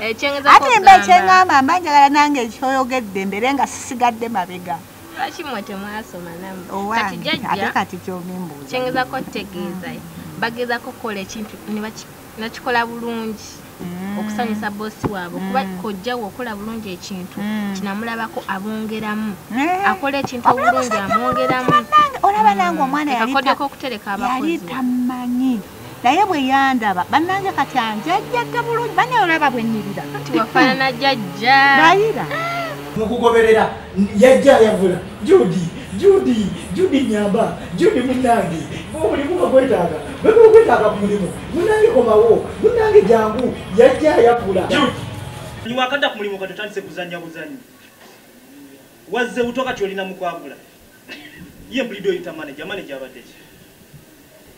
ate mba kyeŋamba mba njagala nange ekyoyogedde mbeere nga sisigadde mabega lwaki mwe temwasoma namwe kati jajja ate kati kyobimbuuza kyengezako tegeeza bagezako kukola ekintu ne baki nakikola bulungi mm. okusanyusa bosi waabwe kuba mm. kojjawo okola bulungi ekintu mm. kinamulabako abongeramu eh. akola ekintu obulungi amwongeramu olaba nange omwana yakodeko okutereka abakozi tamanyi naye bwe yandaba bannange kati anjajjadde bulungi banaye olaba bwenyirira nti wafaanana jajja nayira mukugoberera yajja ayavula judi judi judi nyamba judi munange omulimu nga gwetaaga bwekuba gwetaaga ku mulimu munange komawo munange jangu yajja ayavula niwakadda ku mulimu katotandise kuzanya buzanyi wazze buto kati olina mukwagula ye mpulido oyita manaja manaja abaddeki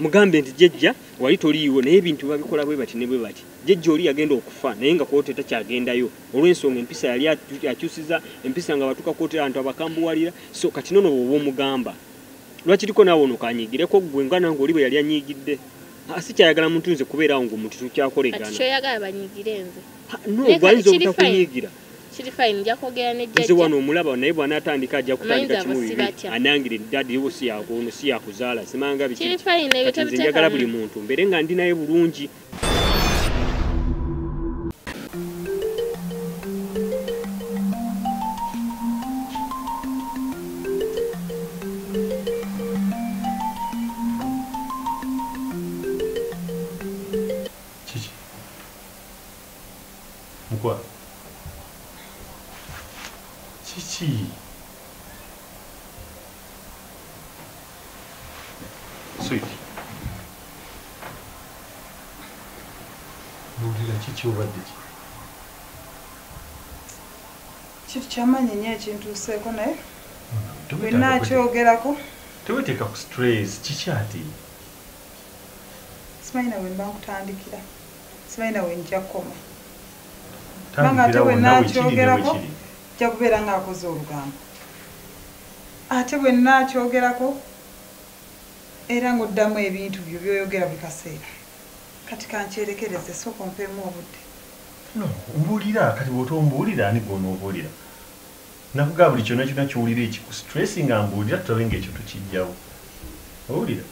mugambe nti jejja wali toliiwo naye ebintu babikola bwe bati ne bwe bati jejja oli yagenda okufa naye nga koote takyagendayo olw'ensonga empisa yali akyusiza empisa nga batuka koote abantu abakambuwalira so kati nono bwoba omugamba lwaki liko naawe ono kanyigireko ggwe nga nange oli bwe yali anyigidde si kyayagala muntu nze kubeeraawo ngaomuntu tukyakoleganakyoyagala banyigire nze no gwayinza obutakunyigira kiri fine nja kwogera ne jjajja nze wano omulaba naye bw'anaatandika ajja kutandika kimu bibi anangire dadi wo si yakuno si yakuzaala simanga biki kiri fine ebyo tebiteekamu njagala buli muntu mbeere nga ndi naye bulungi mukwa kiki sweet bulira kiki obadde ki kintu kyamanyi nyo ekintuuseeko naye tulina akyogerako teweteeka ku stress kiki ati simanyi nawe mba nkutandikira simanyi nawe nja kukoma kubanga ate bwenakyogerako nja kubeera nga akoze olugambo ate bwenakyogerako era ngaoddamu ebintu byo byoyogera buli kaseera kati kankyerekereze sooka ompeemu obudde no mbuulira kati bwota ombuulira ani gwonoobuulira nakugaa buli kyona kyona kyowulira ekikustresi nga mbuulira tulabe nga ekyo tukijjawo owulira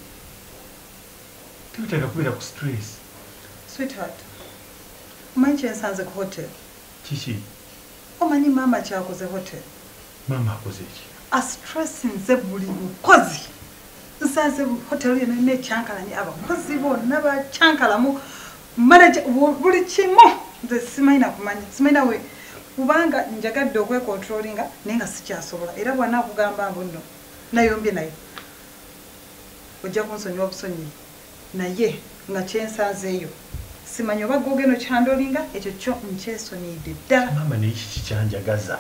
tebetaaga kubeera ku stress sweetheart omanyi kyensanze ku hotel kiki omanyi maama kyakoze hotel maama akoze eki astressinze buli mukozi nsanze hotel yona ina ekyankalanye abakozi bonna bakyankalamu manaje buli kimu nze simanyi nakumanya simanyi nawe kubanga njagadde okwekontrolinga naye nga sikyasobola era bwana akugamba mbu nno nayombye naye ojja kunsonyiwa busonyiyi naye nga kyensanzeeyo simanyi oba gwe ogenda okyandolinga ekyo kyo nkyesonyiidde ddala maama naye kiki kyanjagaza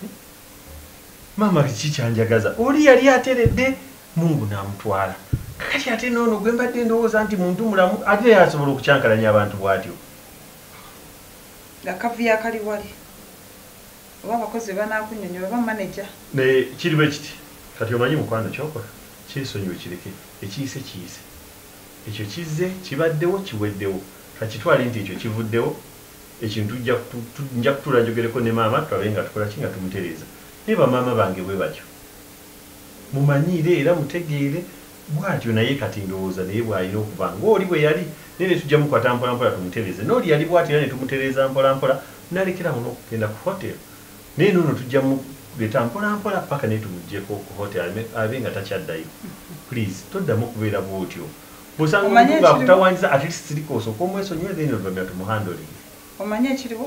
hmm? maama kiki kyanjagaza oli yali ateredde mungu n'amutwala kakati ate noono gwe mbadde ndowooza nti muntu mulamu ate naye asobola okukyankalanya abantu bwatyo nga kavuyo akali wali Oba abakozi bebanaakunnyonnyola oba manager. Naye kiri bwe kiti kati omanyi mukwano ky'okola kyesonyiwe kireke ekiyise kiyise ekyo kizze kibaddewo kiweddewo kakitwale nti ekyo kivuddewo ekintu tujja kutu tu nja kutuula njogereko ne maama tulabe nga tukola ki nga tumutereeza naye ba maama bange bwe batyo mumanyiire era mutegeere Bwatyo naye kati ndowooza naye bwalina okuba nga oli bweyali naye netujja mukwata mpola mpola tumutereze noli yali bwati era netumutereeza mpola mpola nalekera awo nokugenda ku hotel naye nono tujja muleta mpola mpola paka naye tumujjeko ku hotel abe nga takyaddayo please toddamu kubeera bwotyo bwosanga omuntu nga akutawanyiza atleast sirika osooke omwesonyiwe then oluvanyuma tumu handling. Omanyi ekiriwo?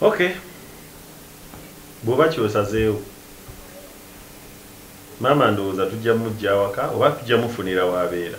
okay bwoba kyosazeewo maama ndowooza tujja mujja awaka oba tujja mufunira wabeera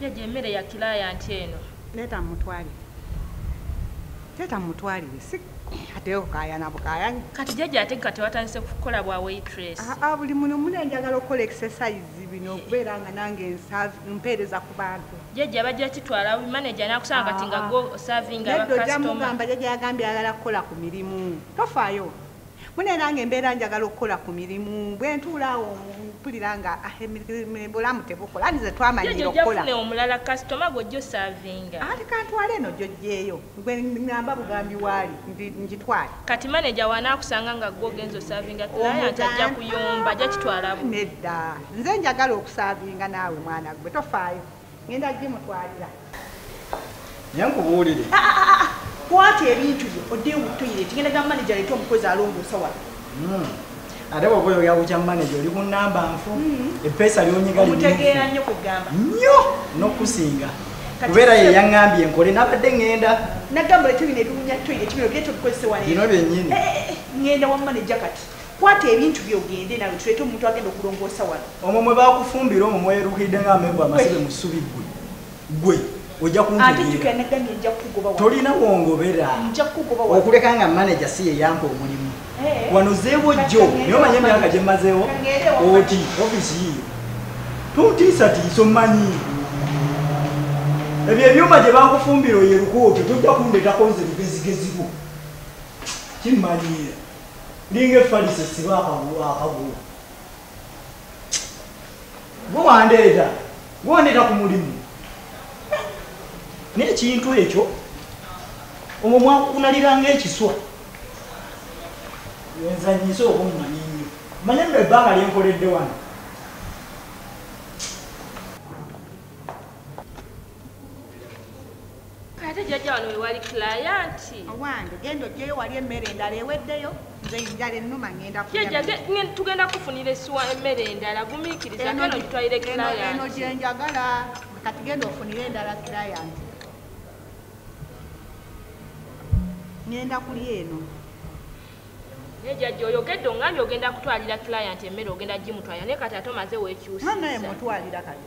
jajja emmere ya kilayanti eno leeta mutwalire leeta mutwalire si atewo kayana bukayanya kati jajja ate kati watandise kukola bwa waitress aa ah, ah, buli muno muna njagala okukola exercise bino okubeera nga nange mpeereza ku bantu jajja bajja kitwala wi manager nakusanga kati nga go serving aba customer jajja mugamba jajja yagambye ayagala kukola ku mirimu tofaayo mune nange mbeera njagala okukola ku mirimu bwe ntuula awo mpulira nga ah, bulamu tebukola ani ze twamanyira okukola omulala kasitoma gwojja osavinga ati kantwala eno gyojjeeyo gwe ngamba bugambi waali ngitwale kati manager wanakusanga nga gwo ogenza osavinga client ajja kuyomba ajja kitwala bu nedda nze njagala okusavinga naawe mwana gwe tofaayo ngenda gimutwalira nyankubuulire ah, ah, ah, kwata ebintu byo odde mu toilet ngenda ga manager leeta omukozi alongoosa wala hmm. ate bwoba oyogera ku kya manaja oli ku namba nfu mm-hmm. epeesa lyonyigaomutegeera nnyo kwegamba nnyo n'okusinga kubeera ye yaŋŋambye nkole nabadde ŋŋenda nagamba lete bino ebiwunya toire tibino bye tobikozese wabino byenyini eh, eh, eh, ŋŋenda wa manaja kati kwata ebintu byogende nawe tuleete omuntu agenda okulongoosa wano omwo mwe bakufumbira omwo mweruhidde nga amengo amasibe mu ssubi ggwe gwe ojja kuntolina wongobera okuleka nga manaja si yeyampa omulimu eh. wano zeewo jjo naye omanye emyaka gye mmazeewo oti ofisi yiyo tontiisatiisa omanyi ebyo ebyuma gye bakufumbira oyo erukuoto tojja kundetako nze lugezigezibu kimmanyiira ninga efalise siba akagulu gwe wandeeta gwe wandeeta ku mulimu naye ekintu ekyo omwo mwakukunaliranga ekiswa wenzanyise oba omumanyi nnyo manye nno ebbanga lyenkoledde wano ate jjajja wano wewali kilayanti owange genda ojjeyo wali emmere endala eweddeyo nze njala ennuma ngenda tugenda kufunira esiwa emmere endala gumiikiriza keno gitwalire kilayantieno gyenjagala kati genda ofunire endala kilayanti ngenda kuli eno nejajja oyogedde ongambye ogenda kutwalira kilayanti emmere ogenda gimutwalira naye kati ate omaze wekyusa naye mutwalira kati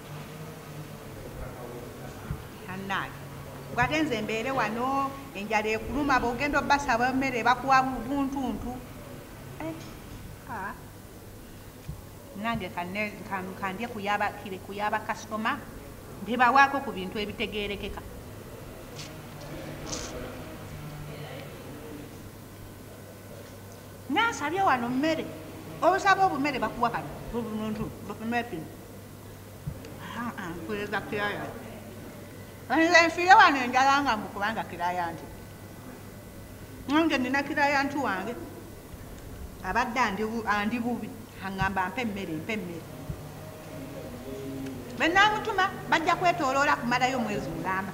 ngate nze mbeere wano enjala ekuluma bogenda obasaba emmere bakuwa buntuntu eh, ah. nange kandye kuyaba kasitoma ndebawaako ku bintu ebitegerekeka nansabye wano mmere obusaba obumere bakuwa kano buntuntu nkuliza kiraya nze nfiire wano enjala nga mbu kubanga kiraya nti nange nina kiraya nti wange abadde andi bubi aŋamba mpa emmere mpa emmere benamutuma bajja kwetoloola kumalayo omwezi mulamba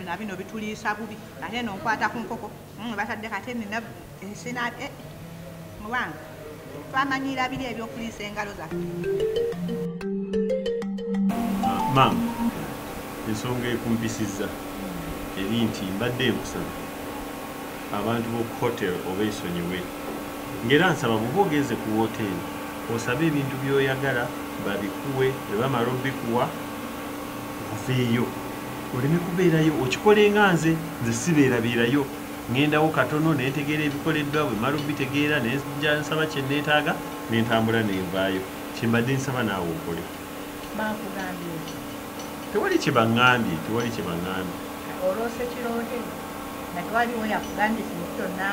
na bino bituliisa bubi ate eno nkwata ku nkoko mm, batadde kate nina ensina e eh, mubange twamanyiira biri ebyokuliisa engalo zaffe maama ensonga ekumpisizza eri nti mbadde enkusaba abantu b'oku hotel oba esonyiwe ngaera nsaba buba ogenze ku woteeri osaba ebintu byoyagala babikuwe ebamala obikuwa oveeyo oleme kubeerayo okikole nga nze nze sibeerabeerayo ŋŋendawo katono ne ntegeera ebikoleddwa bwe mala obitegeera ne nja nsaba kye nneetaaga ne ntambula ne nvaayo kye mbadde nsaba naawe okole tewali kye baŋŋambye tewali kye baŋŋambye oloose kiroote nga tewaliwo yakugambye kintu kyonna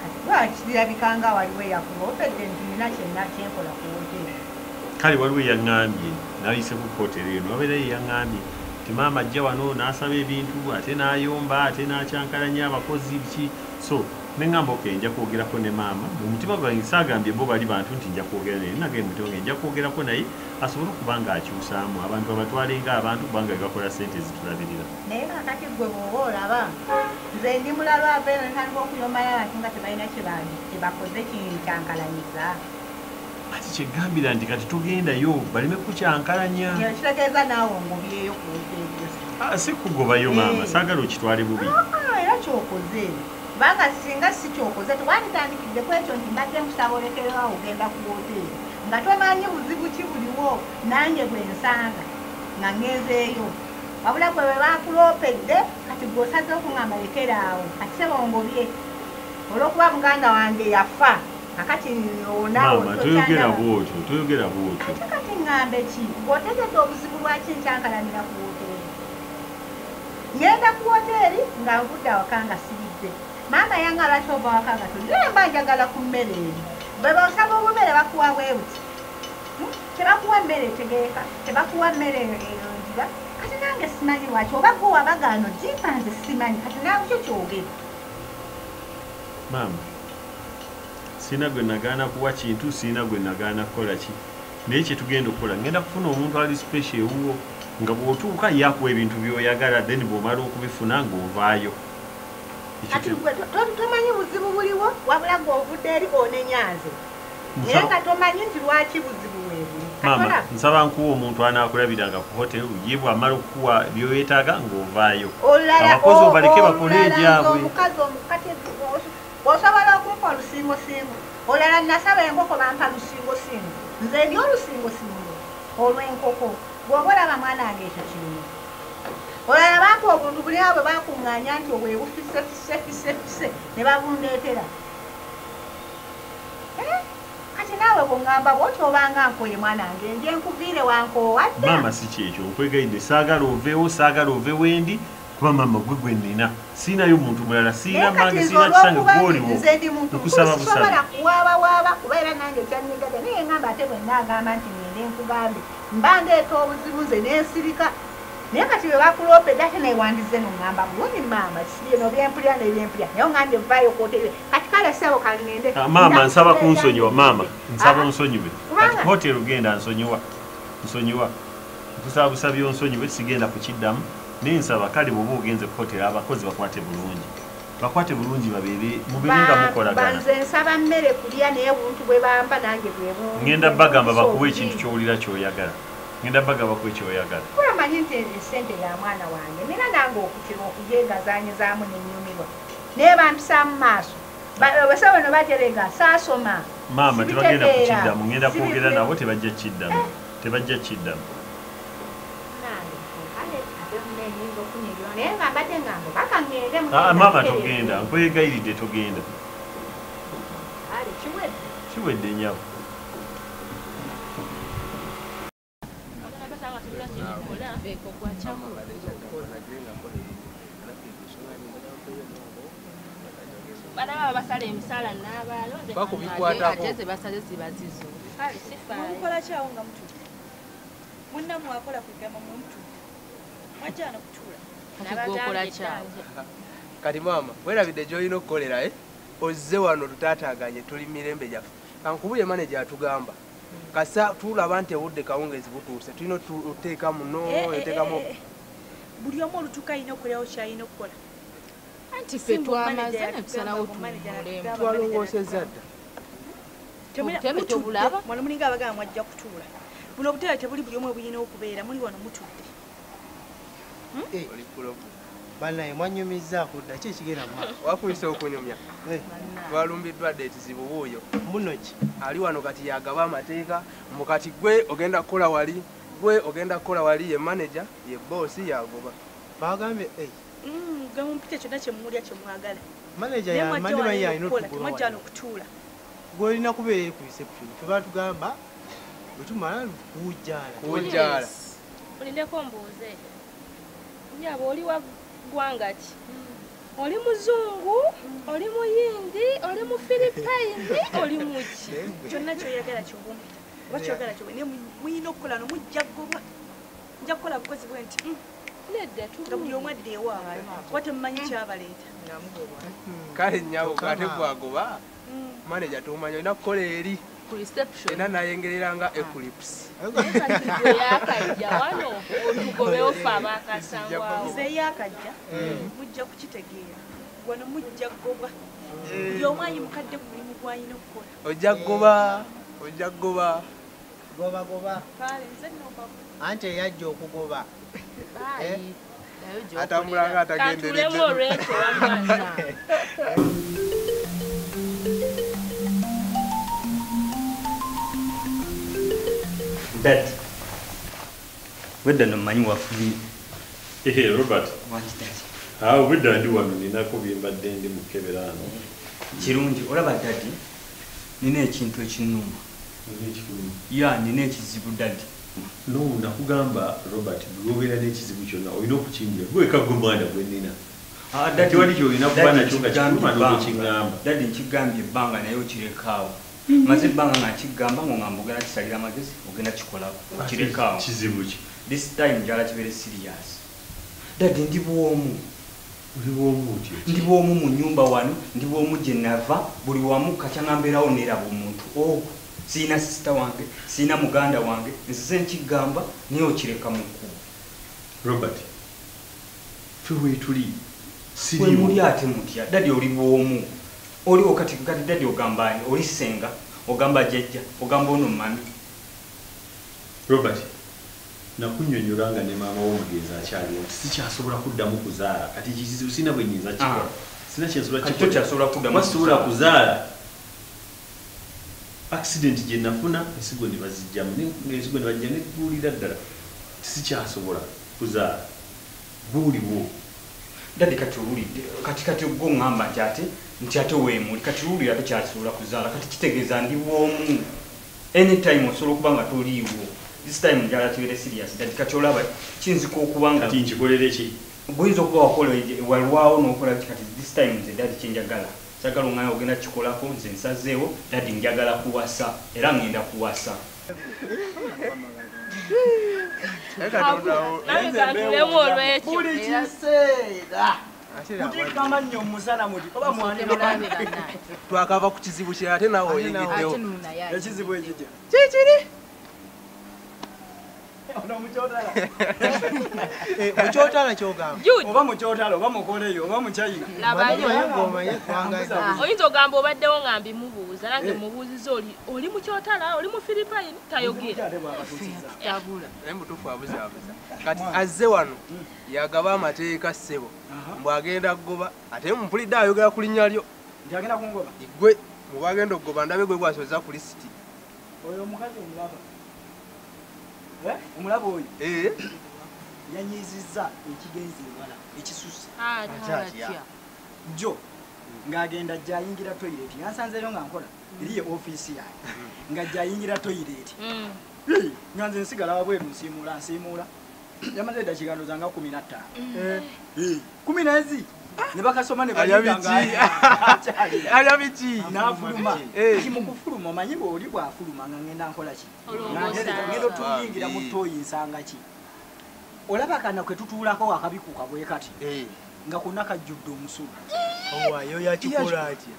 kati lwaki kirabika nga waliwo eyakuba obedde nti nina kyenna kyenkola ku wooteeri kale waliwo eyaŋŋambye n'ayise ku kootero eno wabeerayo eyaŋŋambye nti maama ajja wano n'asaba ebintu ate n'ayomba ate n'akyankalanya abakozi biki so ne ŋŋamba ok nja kwogerako ne maama mu mutima gwange saagambye bo bali bantu nti nja kwogera naye nagee mu mutima gwange nja kwogerako naye asobole okuba ng'akyusaamu abantu abatwale ng'abantu kubanga be bakola ssente ezitulabirira naye kakati ggwe bw'oba olaba nze ndi mulaba ava eno ntandika okuyombayo abantu nga tebalina kye bakoze kinkankalanyiza ati kyegambira nti kati tugendayo baleme kukyankalanya kitegeeza naawe ngobyeyo ah, si kugobayo maama eh. saagala okitwale bubi ah, era kyokoze kubanga singa si kyokoze tewanditandikidde ku ekyo nti mbadde nkusaba olekerewa ogenda ku woteeri nga tomanyi buzibu ki buliwo nange bwe nsanga nga ngenzeeyo wabula gwe bwe bakuloopedde kati gwe osaze okungamba lekeraawo kati sebongobye olw'okuba muganda wange yafa kakati maama toyogera bwotyo toyogera bwotyo ate kati ngambe ki otegedde obuzibu lwaki nkyankalanira ku woteeri ngenda ku woteeri nga nvudde awaka nga sibidde maama yanga lwaki ova waka nga toli naye mba njagala ku mmere eri bwe baosaba obumere bakuwa bwebuti hmm? tebakuwa mmere etegeeka tebakuwa mmere eronjibwa kati nange simanyi lwaki oba gwe wabagaano jimpa nze simanyi kati nawe kyo kyogere maama sirina gwe nagaana kuwa kintu sirina gwe nagaana kukola ki naye kyetugenda okukola ngenda kufuna omuntu ali special ewuwo nga bwotuuka yakuwa ebintu byoyagala then bwomala okubifuna ngaovaayo tomanyi buzibu buliwo wabula gweovudde eri onenyanze naye nga tomanyi nti lwaki buzibu webuli maama nsaba nkuwa omuntu anakulabiranga ku hotel ye bwamala okukuwa byoyetaaga ng'ovaayo abakozi obaleke bakole egyabwe osobola okumpa olusingosingo olala nasaba enkoko bampa lusingosingo nze ndi olusingosingo olw'enkoko bwoba olaba mwana wange ekyo kirimu olala bampa obuntu buli awo bwe bakuŋŋaanya nti obwebufisefisefisefise ne babundeetera kati naawe kungamba bwoti obanga nkoye mwana wange nje nkuviire wankoowa dda maama si kyekyo nkwegayidde saagala oveewo saagala ove wendi kuba maama gwe gwe nnina siinayo muntu mulala siina mange siina kisange gwoliwo nkusaba busasobola kuwaabawaaba kuba era nange kyanyigaga naye ngamba ate bwenna agamba nti ngende nkugambe mba ndeeta obuzibu nze nensirika naye kati bwe bakuloopedde ate naye wandize nongamba bulungi maama kisibyeno byempulira nebyempulira naye ongambye vaayo kwotere kati kale sebo kangende ah, maama nsaba kunsonyiwa maama nsaba ah, onsonyiwe kati hotel ugenda nsonyiwa nsonyiwa nkusaba busabi onsonyiwe sigenda kukiddamu naye nsaba kale bwoba ogenze ku hotel abakozi bakwate bulungi bakwate bulungi babeere mubiringa mukolagananze nsaba mmere kulya naye buntu bwe bamba nange bwebu ngenda bagamba bakuwa ekintu kyowulira kyoyagala ngenda baga bakuwa ekyoyagala kulamanyi nti esente ya mwana wange nina nange okutira okugegazanyizamu nenyumirwa naye bampisaamu maaso basa bano baterega saasoma maama tebagenda kukiddamu ngenda kwogera nabo tebajja kukiddamu eh. tebajja kukiddamu ah, maama togenda nkwegayiridde togenda kiwedde nyabo munamwakola kugamba muntu mwajana kutuula kati maama werabidde gyolina okukolera eh? ozze wano tutaataganye tuli mirembe gyaffe kankubuye maneja atugamba kasa tulaba nti obudde kawungeezi butuuse tulina oteeka muno eh, eh, oteekamu eh, buli omu olutuuka alina okulewo kyalina okukola anti fe twamaze netusalawo twalongoosezza dda obutebe tobulaba mwana mulinga abagamba mwajja kutuula buno obutebe tebuli buli omu obuyina okubeera muli wano mutudde Hmm? Eh. banaye mwanyumizza kudda ki ekigenda mu maaso wakuyisa okunyumya eh. twalumbiddwa dde ekizibu wuuyo muno ki ali wano kati yagaba amateeka mbu kati gwe ogenda kukola wali gwe ogenda kukola wali ye manaja ye boosi yagoba bagambye eh. hmm, gamumpite kyonna kyemulya kyemwagala manaja yamanyi baye yalina otugola okutuula gwolina kubeera eri ku reception fe batugamba bwetumala kujala olindeko mbuuze nyabo oli wa ggwanga ki oli muzungu oli muyindi oli mu filipayini oli muki kyonna kyoyagala kyobumbi oba kyoyagala kyob naye muyina okukola no mujja gobwa nja kukola bukozi bwe nti mm. nedda nga buli omu adde ewaabwe kuba temumanyi kyabaleeta kale nyabo ate gwagoba mm. manager tomanya olina kukola eri era nayengerera nga ah. eclips ojja kugoba ojja kugoba gobagoba anti eyajja okugoba eh? atambula nga atagenderedde Dad. Wedda no manyi wafubi. Ehe Robert. Wangi dad. Ah, wedda ndi wano nina ko bimba dendi mukebera ano. Kirungi olaba dad. Nina ekintu ekinuma. Nina ekinuma. Ya nina ekizibu dad. No nakugamba Robert buli lwobeera nekizibu kyonna olina okukimbira gwe weka gwe mwana gwenina ah, tewali kyolina kuba nakyo nga kikuluma nokukingamba dadi nkigambye ebbanga naye okirekaawo mhm. maze ebbanga nga nkigamba ngo ngamba ogenda kisalira amagezi ogenda kikolako ah, okirekaawo kizibu ki this time njala kibeere serious dadi ndi bwomu ndi bwomu mu nyumba wano ndi bwomu gye nava buli wamu kakyanga mbeerawo neeraba omuntu o oh. sirina sisita wange sirina muganda wange nzize nkigamba naye okireka mu kkubo robert fe wetuli siriwemuli ate mutya dadi oli bwomu oliwo kati kati dadi ogamba ani oli senga ogamba jajja ogamba ono mami robert nakunyonyola nga ne maama wo mugenzi akyaliwo nti sikyasobola kuddamu kuzaala kati kizibu sirina bwenyinza kikola ah. sirina kyensobola kikola kyasobola kuddamu kuzaala accident gye nafuna ensigo ne bazijjamu ne- ensigo ne bajja ne guwulira ddala nti sikyasobola kuzaala guuliwo Daddy kati owulidde kati kati ogwo ngamba nti ate nti ate wemuli kati owulira tokyasobola kuzaala kati kitegeeza ndi bwomu anytime osobola okuba nga toliiwo this time njala tubere serious daddy kati olaba kiyinzika okuba nga kati nkikolere ki guyinza okuba wakola walwawo nokola ki kati this time nze daddy kyenjagala Sagala ongana ogenda kikolako nze nsazeewo daddy njagala kuwasa era ngenda kuwasa. twakava ku kizibu kye ate nawe oyingiddewo ekizibu ekikye kikiri mukyotala kyogambaoba mukyotala oba mukoleyo oba mukyayinaoyinza ogamba obaddewo nga mbimubuuza nange eh. mubuuziza oli oli mukyotala oli mu philipine tayogeeramutufuabuzabuza kati azze wano hmm. yagaba amateeka ssebo mbu agenda kugoba ate mupulidde ayogera ku linnya lyo gwe mubagenda okugoba ndabe gwe gwasoza ku lisiti oyo omukazi omulaba Eh? omulaba oyo eh? yanyiizizza ekigenzi ewala ekisusse jjo ng'agenda jayingira toyireti yansanzeeyo nga nkola mm. eriye ofiisi yange mm. nga jayingira toyireti mm. nga nze nsigala wabweru nsiimuula nsiimuula yamaze eddakiikando zanga kumi na ttaano eh. kumi nezi nebakasoma nebayabikiayabiki nafuluma kimukufuluma omanyi bweoli bwafuluma nga ngenda nkola kino ngenda otuyingira mu toyi nsanga ki olaba kana kwe tutuulako akabikuka bwe kati eh. nga konna kajjudde omusulu owayo yakikola atya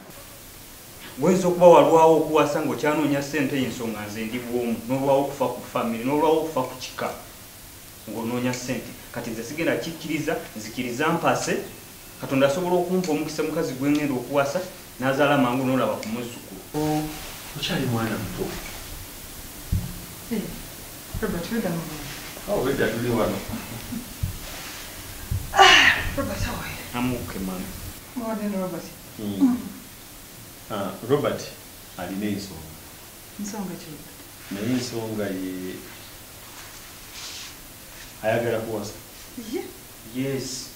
wayinza okuba walwawo okuwasa nga okyanoonya ssente ensonga nze ndi bwomu n'olwawo okufa ku famiry n'olwawo okufa ku kika ng'onoonya ssente kati nze sigenda kikkiriza nzikiriza mpase Katonda asobola okumpa omukisa mukazi gwe ngenda okuwasa n'azaala mangu n'olaba ku muzzukulu. Oh, okyali mwana muto. Robert, weda mu mwana. Oh, weda tuli wano. Ah, Robert, how are you? I'm okay, mama. More than Robert. Mm. Ah, Robert, alina ensonga. Nsonga ki? Naye ensonga ye ayagala kuwasa. Yeah. Yes.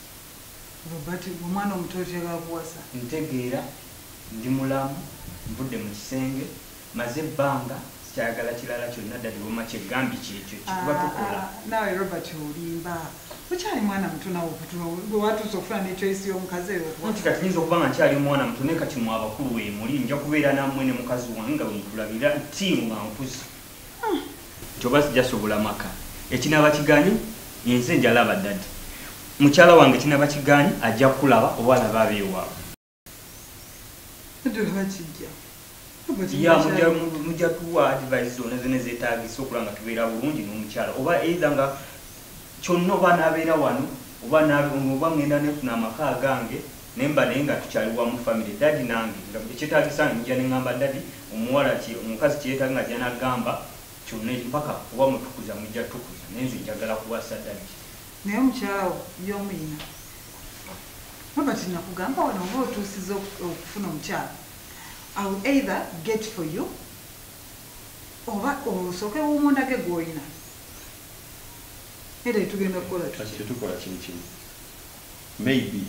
Robert omwana omuto otera akuwasa. Ntegeera, ndi mulamu, nvudde mu kisenge, maze ebbanga, sikyayagala kirala kyonna Daddy wamma kye gambye kyekyo kye tuba tukola. Ah, ah, naawe Robert olimba. Okyali mwana muto naawe okutula gwe watuuse okufuna ne choice y'omukazi eyo okuwa. Nti kati nyinza okuba nga nkyali mwana muto naye kati mwe abakulu wemuli nja kubeera nammwe ne mukazi wange nga bwe mutulabira team nga nkuze. kyoba sijasobola maka ekinaba kiganye enze njalaba dadi mukyala wange kinaba kiganye ajja kulaba oba alaba abeewaawe mujja tuwa advise zona zona zetagisa okulaba nga tubeera bulungi n'omukyala oba eitha nga kyonna oba nabeera wano oba oba ngenda nefuna amaka agange nemba naye nga tukyali wamu family daddy nange nga ekyetagisa nja nengamba daddy omuwala kye omukazi kyeyetaga nga ajja nagamba kyonna mpaka oba mutukuza mujja tukuza naye nze njagala kuwasa daddy naye omukyala wo yomu yina Robert nakugamba wano oba otuusiza okufuna omukyala I will either get for you oba osooke wumundage gwoyina era tugenda kukola kati kyetukola kiri kimu maybe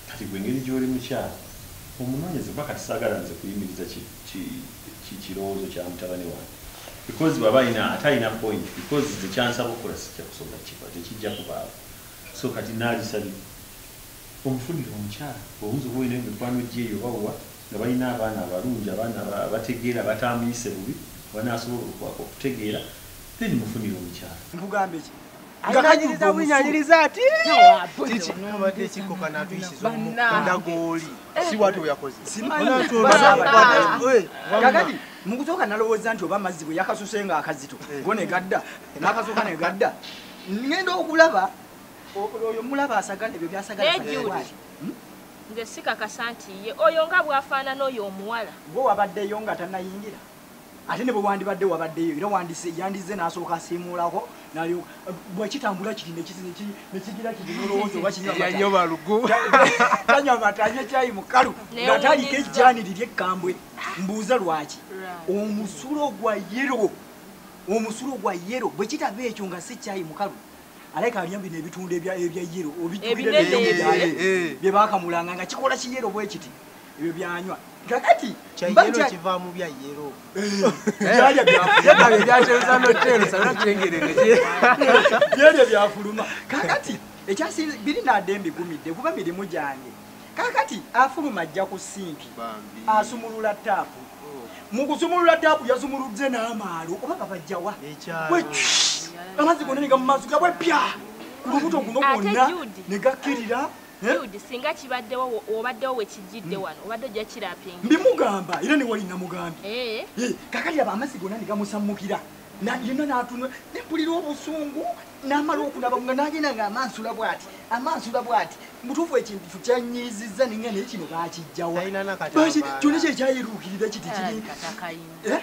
kati gwe engeri gyoli mukyala omunonyeze kuba kati sagala nze kuyimiriza kikirowoozo kya mutabani wange because bwaba alina ate alina point because nze kyansaba okukola sijja kusobola kiba tekijja kubaawo so kati naalisabye omufulire omukyala owunza oba olina emikwano gyeyo oba wa nga balina abaana abalungi abaana abategeera abatamuyise bubi abanasobola okutegeera then mufunire omukyala. Nkugambe ki? Nga kanyiriza bwinyo anyiriza ati. Kiki nabadde kiko kanatuyisiza omukunda gooli. Eh. Si watu yakoze. Simanyi. Kakati mukutoka nalowooza nti oba amazzi bwe yakasuse nga akazito eh. go ne gadda n'akasuka ne gadda ngenda okulaba oyo mulaba asagala ebyo byasagala. Nze sikakasa nti ye. Oyo nga bwafaanana oyo omuwala. Gwe wabaddeyo nga tanayingira? Ate ne bwe wandibadde wabaddeyo era wandise yandizze n'asooka asiimuulako nalyo bwe kitambula kiri ne kiti ne kigira kiti n'olowooza oba kinywa amata. Yanywa balugu. Tanywa amata anywa caayi mukalu nga taliko ejjaani liri ekkambwe. Mbuuza lwaki omusulo gwa yero omusulo gwa yero bwe kitaba ekyo nga si caayi mukalu aleka aliyo bino ebitundu ebya ebya yero obitubira ebyo byaye eh. bye bakamulanga nga kikola ki yero bwekiti ebyo byanywa kakati mbanja kiva mu bya yero byali eh. bya byali bya cheza no tero sana chengere ne byali bya fuluma kakati ekyasi biri na dembi gumide kuba biri mujange Kaakati afuluma ajja ku sinki asumulula ttaapu. Oh. Mu kusumulula ttaapu yasumuludde n'amaalo oba gabajja wa? Amazzi gonna ne gamumaaso gabwe pya ku lubuto guno gwonna ne gakkirira. Jude singa kibaddewo obaddewo wekijjidde wano obadde ojja kirapinga mbimugamba era newali namugambye eh. eh, kakati aba amazzi gonna negamusammukira yonna natunula nempulira obusungu namala okunaba nga nagenda nga amansula bwati amansula bwati mutuufu ekintu kyo kyanyiizizza ninga naye kino bakijjawa kyona kyekyayiruukirira kiti kiri eh?